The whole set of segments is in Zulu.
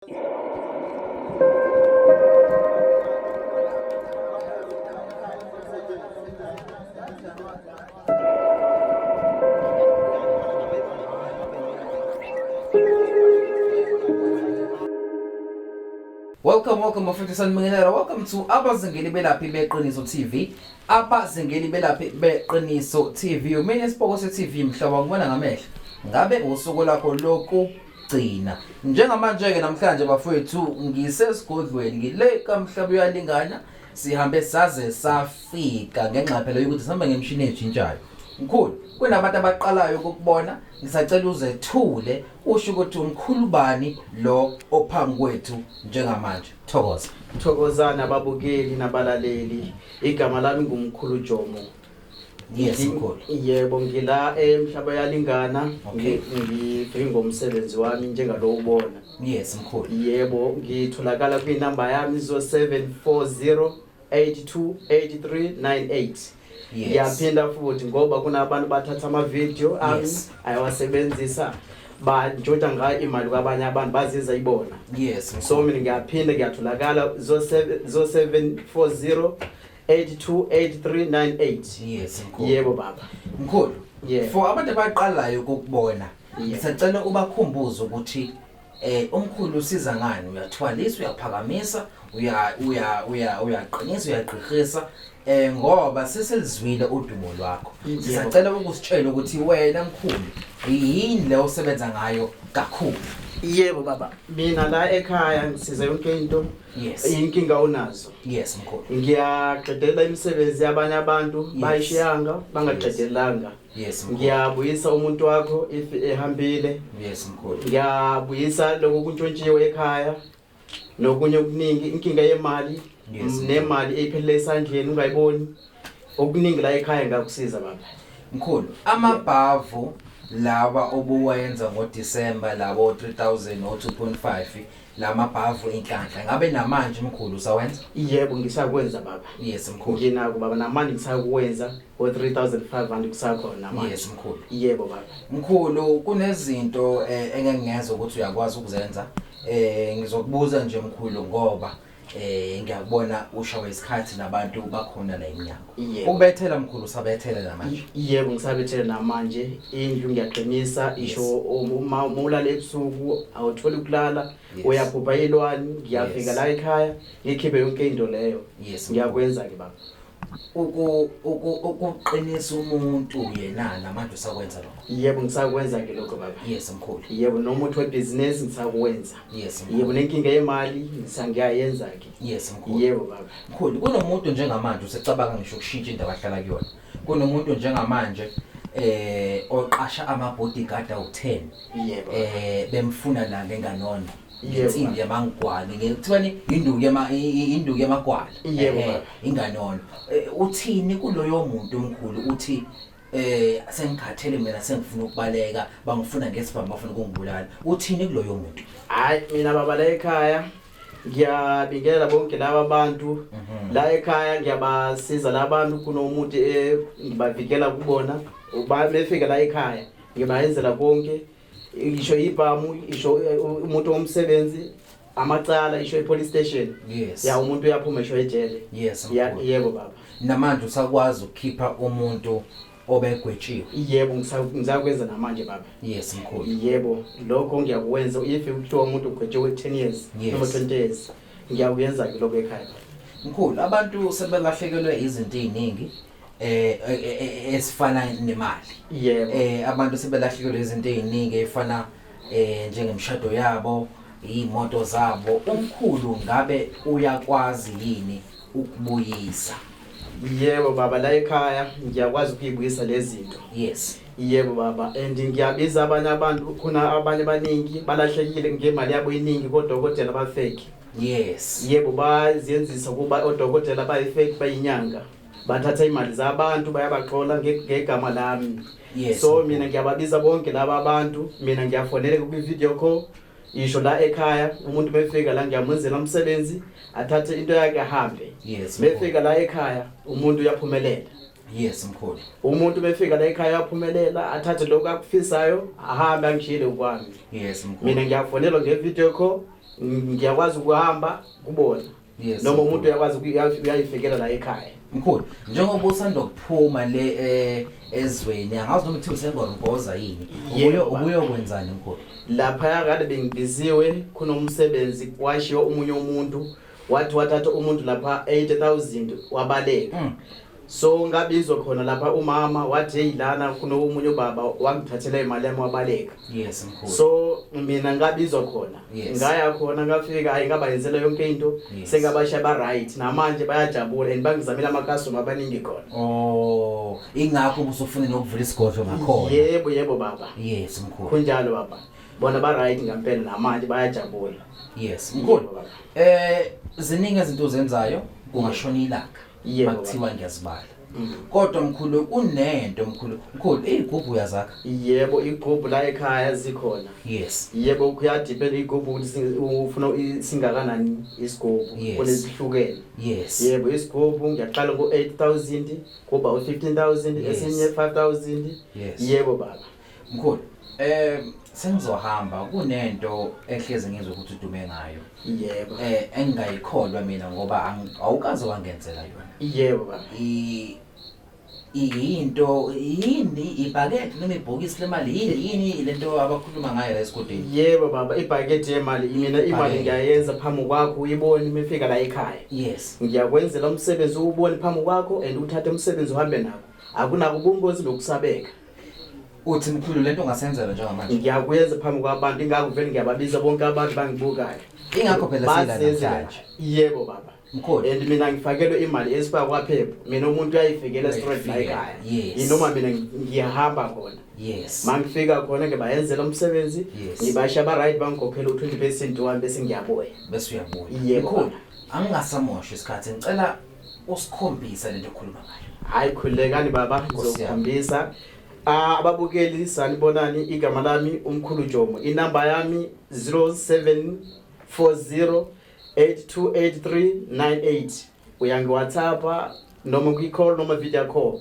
Welcome, welcome bafethu sanibingelela. Welcome to abazingeli belaphi beqiniso TV. Abazingeli belaphi beqiniso TV. Umene isipoko se TV mhlobo ngibona ngamehlo. Ngabe usuku lakho lokhu gcina njengamanje-ke namhlanje bafowethu ngisesigodlweni ngile kamhlaba uyalingana sihambe saze safika ngengxaphelo yokuthi sihamba ngemishini ejintshayo mkhulu kunabantu abaqalayo ukukubona ngisacela uzethule usho ukuthi umkhulu bani lo ophambi kwethu njengamanje thokoza thokozana ababukeli nabalaleli igama lami ngumkhulu jomo Yes, Ngi- mkhulu. yebo ngila emhlaba yalingana Okay. ngibheke ngomsebenzi wami njengalowo ubona Yes, mkhulu. yebo ngitholakala kwinamba yami 0740828398 Yes. ngiyaphinda futhi ngoba kunabantu bathatha amavidiyo ami Yes. ayawasebenzisa bantshotsha ngayo imali kwabanye abantu baziza ibona Yes, so mkhulu. mina ngiyaphinda ngiyatholakala 0740 828398 Yes, mkhulu. yebo baba Mkhulu, Yeah. for abantu abaqalayo ukukubona, Yeah. ngisacela ubakhumbuze ukuthi eh umkhulu usiza ngani, uyathwalisa, uyaphakamisa, uya uya uya uyaqinisa, uyagqirhisa eh ngoba seselizwile udumo lwakho. Yebo. Sisacela ukusitshela ukuthi wena mkhulu yini le osebenza ngayo kakhulu. yebo baba mina la ekhaya ngisiza yonke into Yes. Inkinga unazo. Yes mkhulu. Ngiyaqedela imisebenzi yabanye abantu yes. bayishiyanga bangaqedelanga. Yes mkhulu. Ngiyabuyisa umuntu wakho if ehambile. Yes mkhulu. Ngiyabuyisa lokho kuntshontshiwe ekhaya nokunye okuningi inkinga yemali yes. nemali eyiphelele esandleni ungayiboni okuningi la ekhaya ngakusiza baba. Mkhulu amabhavu lawa obuwayenza ngoDecember lawo 3000 o 2.5 lamabhavu inhlanhla ngabe namanje mkhulu usawenza yebo ngisakwenza baba yes mkhulu nginako baba namanje ngisakwenza o 3500 kusakhona namanje yes mkhulu yebo baba mkhulu kunezinto eh, engeke ngeze ukuthi uyakwazi ukuzenza eh ngizokubuza nje mkhulu ngoba eh ngiyakubona ushawa isikhathi nabantu bakhona la emnyango Yebo. ubethela mkhulu usabethele la manje yebo ngisabethele namanje indlu ngiyaqinisa isho uma uma ulala ebusuku awutholi ukulala Yes. uyaphupha ilwani ngiyafika Yes. la ekhaya ngikhiphe yonke into leyo Yes, ngiyakwenza-ke baba ukuqinisa umuntu yena namanje usakwenza lokho yebo ngisakwenza ke lokho baba yes mkhulu yebo noma uthi webhizinisi ngisakwenza yes yebo nenkinga yemali ngisangiyayenza ke yes mkhulu yebo baba mkhulu kunomuntu njengamanje usecabanga ngisho ukushintsha indawo ahlala kuyona kunomuntu njengamanje eh oqasha ama bodyguard awu10 eh bemfuna la ngenganona insimbi yamangwalo ngekuthiwani induku yama induku yamagwala yebo eh, inganono eh, uthini kuloyo muntu omkhulu uthi eh sengikhathele mina sengifuna ukubaleka bangifuna ngesibhamu bafuna ukungibulala uthini kuloyo muntu hayi mina baba la ekhaya ngiyabingelela bonke laba bantu mhm. la ekhaya ngiyabasiza labantu kunomuntu engibavikela kubona befika la ekhaya ngibayenzela konke isho ibhamu isho uh, umuntu womsebenzi amacala isho ipolice station yes ya umuntu uyaphuma isho ejele yes yebo baba namanje usakwazi ukukhipha umuntu obegwetshiwe yebo ngisakwenza namanje baba yes mkhulu yebo lokho ngiyakwenza if kuthiwa umuntu ugwetshiwe 10 years noma 20 years ngiyakuyenza ke lokho ekhaya mkhulu abantu sebelahlekelwe izinto eziningi eh, eh, eh, eh esifana nemali yebo eh abantu sebelahlekelwe izinto eziningi efana eh njengemshado yabo imoto zabo umkhulu ngabe uyakwazi yini ukubuyisa yebo baba la ekhaya ngiyakwazi ukuyibuyisa lezinto yes yebo baba and ngiyabiza abanye abantu khona abanye abaningi balahlekile ngemali yabo iningi kodokotela bafeki yes yebo bazenzisa kuba odokotela bayifeki bayinyanga bathatha imali zabantu bayabaxola ngegama lami yes. so mina ngiyababiza bonke laba abantu mina ngiyafoneleka kwi-video call ngisho la ekhaya umuntu mefika la ngiyamwenzela umsebenzi athathe into yakhe ahambe yes, mefika la ekhaya umuntu uyaphumelela yes mkhulu umuntu befika la ekhaya aphumelela athathe lokho akufisayo ahambe angishile ukwami yes mkhulu mina ngiyafonelwa ngevideo call ngiyakwazi ukuhamba kubona yes noma umuntu uyakwazi uyayifikela la ekhaya mkhulu njengoba usanda kuphuma le eh, ezweni angazi noma uthi usengoromboza yini ubuye ubuyokwenzani mkhulu lapha yakade bengibiziwe khona umsebenzi kwashiyo umunye umuntu wathi wathatha umuntu lapha 80000 wabaleka mm. so ngabizwa khona lapha umama wathi hey lana kunomunye ubaba wangithathela imali yami wabaleka yes mkhulu so mina ngabizwa khona yes. ngaya khona ngafika hayi ngabayenzela yonke into yes. sengabasha ba right namanje bayajabula and bangizamela ama customer abaningi khona oh ingakho ubusufuna nokuvula isigodlo ngakhona yebo yebo baba yes mkhulu kunjalo baba bona ba right ngempela namanje bayajabula yes mkhulu eh ziningi izinto zenzayo kungashona ilanga Yebo. Makuthiwa ngiyazibala. Mm. Kodwa mkhulu kunento mkhulu. Mkhulu igubhu uyazakha. Yebo igubhu la ekhaya zikhona. Yes. Yebo kuyadepend igubhu ukuthi ufuna singakanani isigubhu kunezihlukene. Yes. Yebo isigubhu ngiyaqala ku 8000 kuba u 15000 esinye 5000. Yebo baba. Mkhulu, eh sengizohamba kunento ehleze ngizwe ukuthi udume ngayo. Yebo. Eh engingayikholwa mina ngoba ang- awukaze wangenzela yona. Yebo baba. I iyinto yini ibhakede noma ibhokisi lemali yini yini lento abakhuluma ngayo la esigodini. Yebo baba, ibhakede yemali mina imali Ibhakede. ngiyayenza phambi kwakho uyibone uma ifika la ekhaya. Yes. Ngiyakwenzela umsebenzi uwubone phambi kwakho and uthathe umsebenzi uhambe nawo. Akunako ubungozi nokusabeka. uthi mkhulu lento ungasenzela njengamanje ngiyakwenza phambi kwabantu ingakho vele ngiyababiza bonke abantu bangibukayo ingakho phela silanamhlanje yebo baba mkhulu and mina ngifakelwe imali esiba kwaphepha mina umuntu uyayifikela straight la ekhaya yinoma mina ngiyahamba khona yes mangifika khona ke bayenzela umsebenzi ngibasha ba right bangikhokhela u20% wami bese ngiyabuya bese uyabuya yebo angingasamosha isikhathi ngicela usikhombisa lento okhuluma ngayo hayi khulekani baba ngizokukhombisa ah, ababukeli sanibonani igama lami umkhulu jomo inamba yami 0740 828398 uyangiwhatsappa noma kwi-call noma video call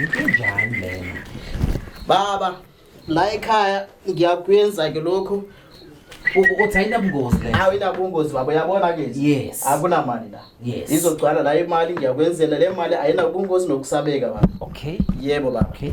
Inkinjani lena? Baba, la ekhaya ngiyakwenza ke lokho. Uthi ayinabungozi le. Hawu inabungozi baba uyabona ke nje. Yes. Akunamali la. Yes. Izogcwala la imali ngiyakwenzela le mali ayinabungozi nokusabeka baba. Okay. Yebo baba. Okay.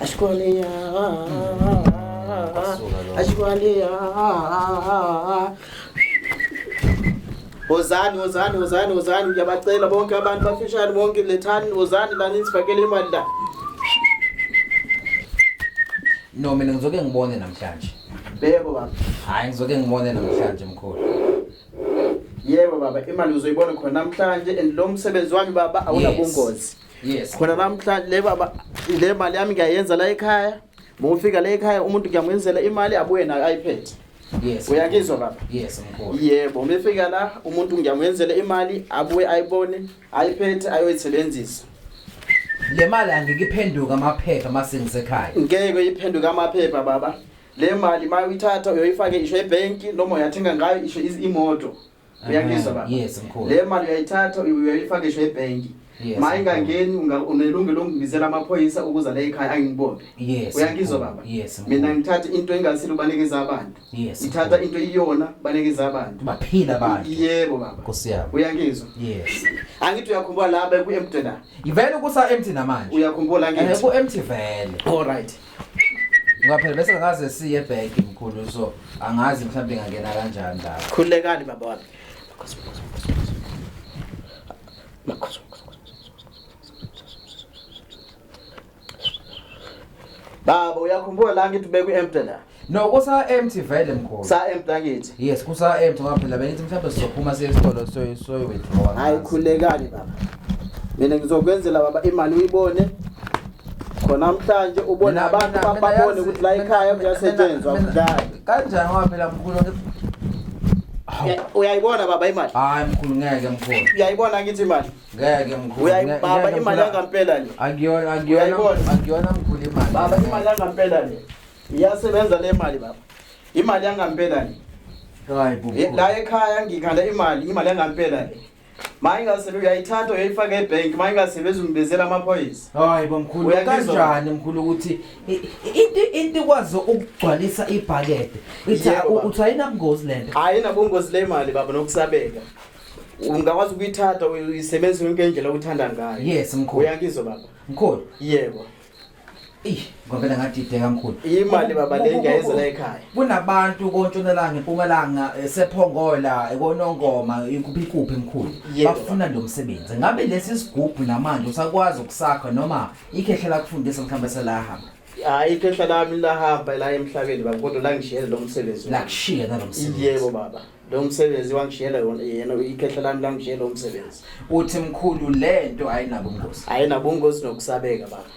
Ashkwaliya, Ashkwaliya. Wozani, wozani, wozani, wozani, ngiyabacela bonke abantu bafishane bonke lethani, wozani la nisifakele imali la. No mina ngizoke ngibone namhlanje. Yebo baba. Hayi ngizoke ngibone namhlanje mkhulu. Yebo baba, imali uzoyibona khona namhlanje and lo msebenzi wami baba awunabungozi. Yes. Khona namhlanje le baba le mali yami ngiyayenza la ekhaya. Mufika la ekhaya umuntu ngiyamwenzela imali abuye nayo iPad. Yes. Uyakizwa baba? Yes mkhulu. Yebo, mefika la umuntu ngiyamwenzela imali abuye ayibone ayiphethe ayoyisebenzisa le mali angeke iphenduke amaphepha uma sengisekhaya ngeke iphenduke amaphepha baba le mali uma uyithatha uyoyifake isho ebhenki noma uyathenga ngayo isho imoto uyangizwa baba yes mkhulu le mali uyayithatha uyoyifaka isho ebhenki Yes, ma ingangeni unelungelo lokungibizela amaphoyisa ukuza la ekhaya angibone yes uyangizwa baba yes mina ngithatha into engasile ubalekeza abantu Yes. Ithatha into iyona balekeza abantu. Baphila abantu. Yebo baba. Nkosi yami. Uyangizwa? Yes. Angithi uyakhumbula la beku empty la. Ivele kusa empty namanje. Uyakhumbula ngithi. Eh ku empty vele. All right. Ngaphela bese ngaze siye back mkhulu so angazi mhlawumbe ngangena kanjani la. Khulekani baba wami. Nkosi nkosi nkosi. Makhosi. Baba uyakhumbula la ngithi beku empty la. No kusa empty vele mkhulu. Sa empty ngithi. Yes kusa empty ngoba phela bengithi mhlawumbe sizophuma siye esitolo so so withdraw. Hayi khulekani baba. Mina ngizokwenzela baba imali uyibone khona namhlanje ubona abantu babone ukuthi la ekhaya kuyasetshenzwa kudlala kanjani ngoba phela mkhulu uyayibona baba imali hayi mkhulu ngeke mkhulu uyayibona ngithi imali Ngeke mkhulu. Uyayibaba imali yangempela le. Akuyona akuyona akuyona mkhulu imali. Baba imali yangempela le. Iyasebenza le mali baba. Imali yangempela le. Hayi bubu. Eh, la ekhaya ngikhala imali, imali yangempela le. Maye ngasebe uyayithatha uyayifaka ebank, maye ngasebe uzimbezela amaphoyisa. Hayi bomkhulu kanjani mkhulu ukuthi into into ikwazi ukugcwalisa ibhakede. Ithi uthi ayinabungozi lento. Ayinabungozi le mali baba nokusabeka. ungakwazi ukuyithatha uyisebenzise yonke indlela oyithanda ngayo yes mkhulu uyangizwa baba mkhulu yebo Eish, ngavela ngadideka mkhulu. Imali baba le ngiyayeza la ekhaya. Kunabantu kontshonalanga empumalanga esephongola ekonongoma ikuphi kuphi mkhulu. Bafuna lo msebenzi. Ngabe lesi sigubhu namanje usakwazi ukusakha noma ikhehla lakufundisa mhlawumbe selahamba. Hayi ikhehla lami lahamba la emhlabeni baba kodwa la ngishiyela lo msebenzi. La kushiya nalo msebenzi. Yebo baba. lo msebenzi wangishiyela yona yena ikhehla lami langishiyela lo msebenzi uthi mkhulu lento ayinabungozi ayinabungozi nokusabeka baba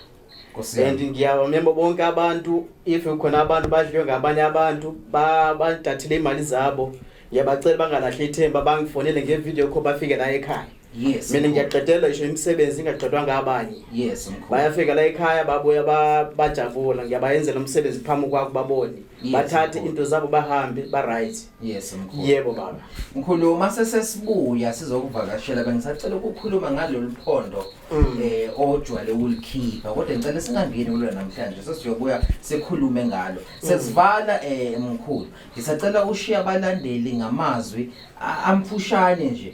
and ngiyabamemba bonke abantu if khona abantu badliwe ngabanye abantu badathile imali zabo ngiyabacela bangalahli ithemba bangifonele ngevideo kho bafike la ekhaya Yes. Mina ngiyaqedelwa isho imisebenzi ingaqedwa ngabanye. Yes mkhulu. Bayafika la ekhaya babuya bajavula ngiyabayenzela umsebenzi phambi kwakho babone. Yes, Bathathe into zabo bahambe ba right. Yes mkhulu. Yebo baba. Mkhulu uma sesesibuya sizokuvakashela bengisacela ukukhuluma ngalolu phondo mm. eh ojwale ulikhipha kodwa ngicela singangeni kulo namhlanje sesiyobuya sikhulume ngalo. Mm. Sesivala eh mkhulu. Ngisacela ushiya abalandeli ngamazwi amfushane nje.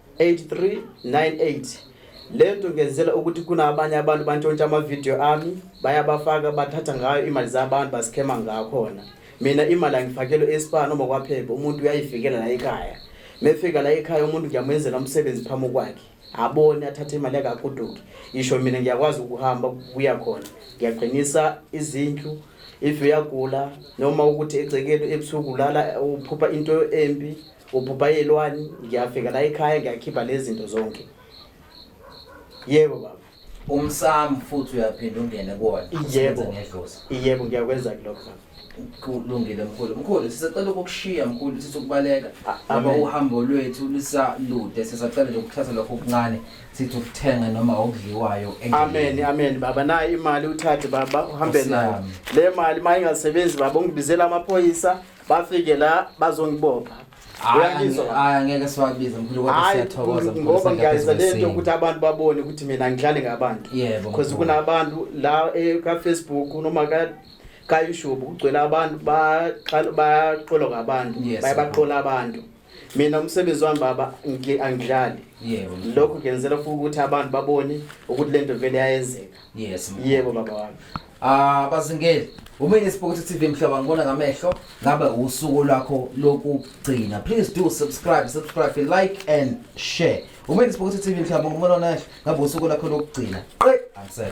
8398 lento ngenzela ukuthi kunabanye abantu bantshontsha amavidiyo ami bayabafaka bathatha ngayo imali zabantu basikhema ngakhona mina imali angifakelwe espa noma kwaphepha umuntu uyayifikela la ekhaya mefika la ekhaya umuntu ngiyamenzela umsebenzi phambi kwakhe abone athathe imali yakakuduki isho mina ngiyakwazi ukuhamba kuya khona ngiyaqinisa izindlu if uyagula noma ukuthi egcekeni ebusuku lala uphupha into embi ubhubha yelwani ngiyafika la ekhaya ngiyakhipha lezi zinto zonke yebo baba umsamo futhi uyaphinda ungene kuwona yebo ngedlozi yebo ngiyakwenza kulokho kulungile mkhulu mkhulu sisacela ukukushiya mkhulu sithi ukubaleka ngoba uhambo lwethu lisalude sisacela nje ukuthatha lokho okuncane sithi ukuthenga noma okudliwayo amen amen baba nayo imali uthathe baba uhambe nayo le mali uma ingasebenzi baba ungibizela amaphoyisa bafike la bazongibopha uyangizwa ngeke siwabize mkhulu kodwa siyathokoza ngoba ngiyayizwa lento ukuthi abantu babone ukuthi mina ngihlale ngabantu yebo because kunabantu la eh, ka Facebook noma ka ka YouTube kugcwele abantu baqala baqolo ngabantu bayabaqola abantu mina umsebenzi wami baba angidlali yebo lokho ngenzela futhi ukuthi abantu babone ukuthi lento vele yayenzeka yes yebo baba wami ah bazingeli uma ineSport TV mhlaba ngibona ngamehlo ngabe usuku lwakho lokugcina please do subscribe subscribe like and share uma ineSport TV mhlaba ngibona ngamehlo ngabe usuku lakho lokugcina qe angsel